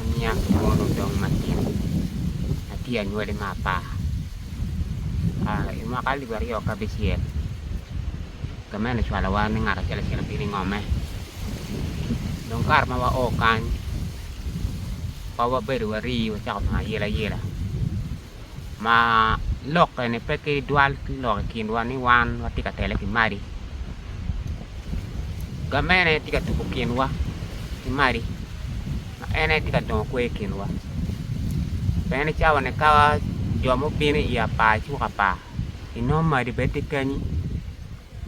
aniang ki mono odong matin atye anywali me apar i mwaka alip aryo ki abicel gamente ocwalowa ni ngat acel acel obino i ngome dong kare ma wao kany wabedo wari wacako nongo ayelayela. ma lokke ni pe ki dwal ki lok i kinwa ni wan watye ka tele ki madi gamene tye ka tuko kinwa ki madi ma en aye tye ka dongo kwer i kinwa pien i cawa ni ka jo ma obino i apar icuk apar inongo madi bene tye kenyi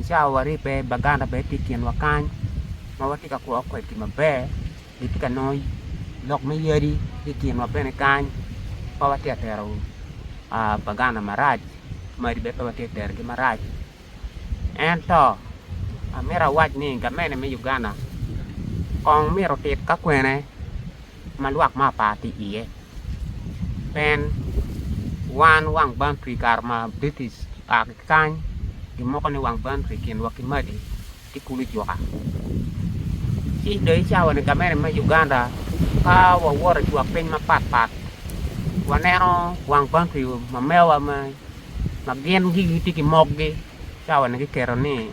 i cawa waribbe baganda bene tye i kinwa kany ma watye ka kwo kwedgi maber. kitye ka nongo lok me yadi ki i kinwa bene kany pe watye ka tero pagana marac madi bene pe watye ka terogi marac ento amito awac ni gamente me Uganda kong myero otit ka kwene ma lwak me apar tye iye pien wan wang bantri i kare ma British oa ki kany gimoko ni wang bantri i kinwa ki madi. ki kulu juka ci dong i cawa ni gamente me Uganda ka wawoto i twak piny mapat pat waneno wang country ma mewa ma gin gigi gitye ki mok gi cawa ni giketo ni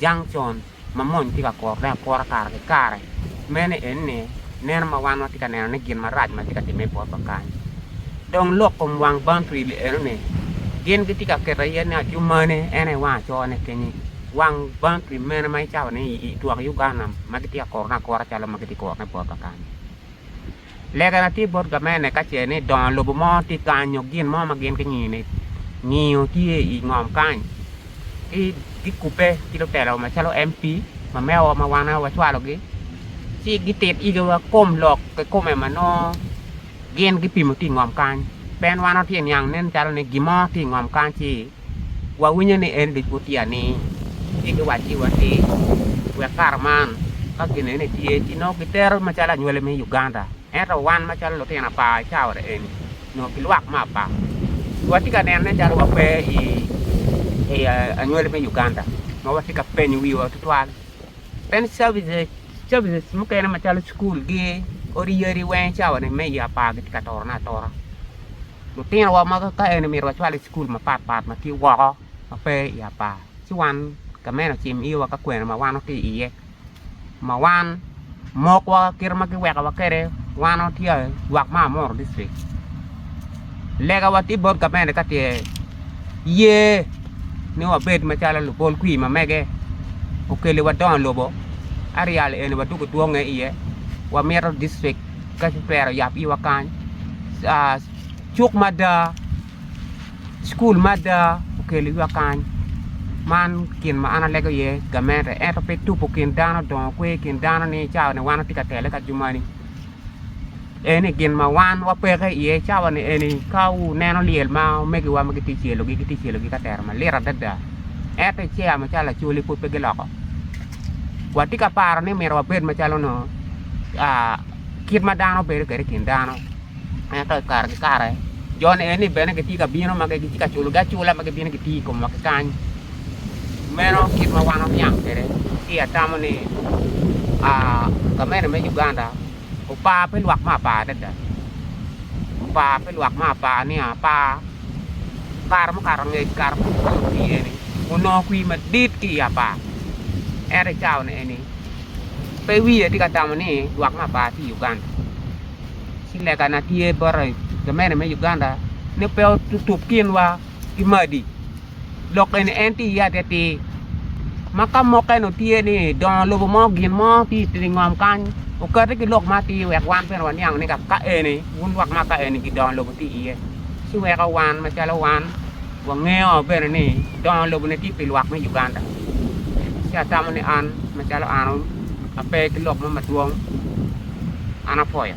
junction ma mony tye ka kuro ne akura kare ki kare meno en ni neno ma wan watye ka neno ni gin marac matye ka time i bot wa kany dong lok kom wang country li eno ni gin gitye ka keto aye ni acumane en aye wang aco ne kenye. Wang bang pi mene ma icawa ni i twak Uganda ma gitye ka kurone akura calo ma gitye ka kurone bot Bakane. Legana tye bot gamente ka ce ni dongo lobo mo tye kany nyo gin mo ma gin gingiyo ni ngiyo tye i ngom kany ci gikubbe ki lutelo macalo MP mamewa ma wan aye wacwalogi ci gitit yigiwa kom lok kikome ma nongo Gin gipimo ki i ngom kany. Pen wano tye niang nen calo ni gin mo tye i ngom kany ci wawinyo ni en ducu tye ani. Ci giwacci wa ni wek kare man ka gin eni tye ci nongo gitero macalo anywali me Uganda ento wan macalo lutino apa i caure eni nyo ki lwak me apa wa tye ka neno nen calo wa pe i anywali me Uganda ma watye ka penyo wiwa tutwal. Bene services mukene macalo cukul gi odi-yadi weng i cawa ni me i apar gitye ka toro ne atora. Lutino wa ma ka eni myero wacwal i cukul mapat pat ma tye woko ma pe i apar ci wan gamente ocim iywa ka kwena ma wan watye iye ma wan Mok wa kite ma giweko wa kwede wan watye lwak me Amuru district lega wa tye bot gamente ka tye ye ni wabed macalo lubol kwir ma mege okeli wa dongo lobo areal eni wa dwogo dwonge iye wa mito district ka ki twero yab iwa kany cuk mada Cukul me ada okelo ywa kany man gin ma an alego iye gamente ento pe tuko kin dano dongo kwe i kin dano ni cawa ni wan watye ka tele ka jo moni eni gin ma wan wapeke iye cawa ni eni ka wuneno lyel ma omegiwa ma gitye ka cwelogi gitye ka cwelogi ka tero malit adada ento i cawa macalo acholi pud pe giloko watye ka paro ni myero wabed macalo nongo kit ma dano bedo kwede i kin dano. Ento i kare ki kare joni eni bene gitye ka bino ma gitye ka culogi acula ma gibino gitiyo i komwa ki kany. Meno kit ma wan waniang kwede ci atamo ni gamente me Uganda opar pi lwak me apar adada, opar pi lwak me apar niya apar. Kare mukato angec kare ma gugoyo kwi eni onongo kwi madit ki i apar ento i cawa eni pe wiye tye ka tamo ni lwak me apar tye i Uganda. ci lega na tye bote gamente me Uganda ni pe otup kinwa ki madi lok eni en tye iye atir ma ka mukene tye ni dongo lobo mo gin mo tye i ngom kany okati ki lok matir wek wan bene waniang ni ka eni wun lwak ma ka eni gidongo lobo tye iye ci weko wan macalo wan wangeyo bene ni dongo lobo ni tye pi lwak me Uganda ci atamo ni an macalo an Ape ki lok mo madwong an apwoyo.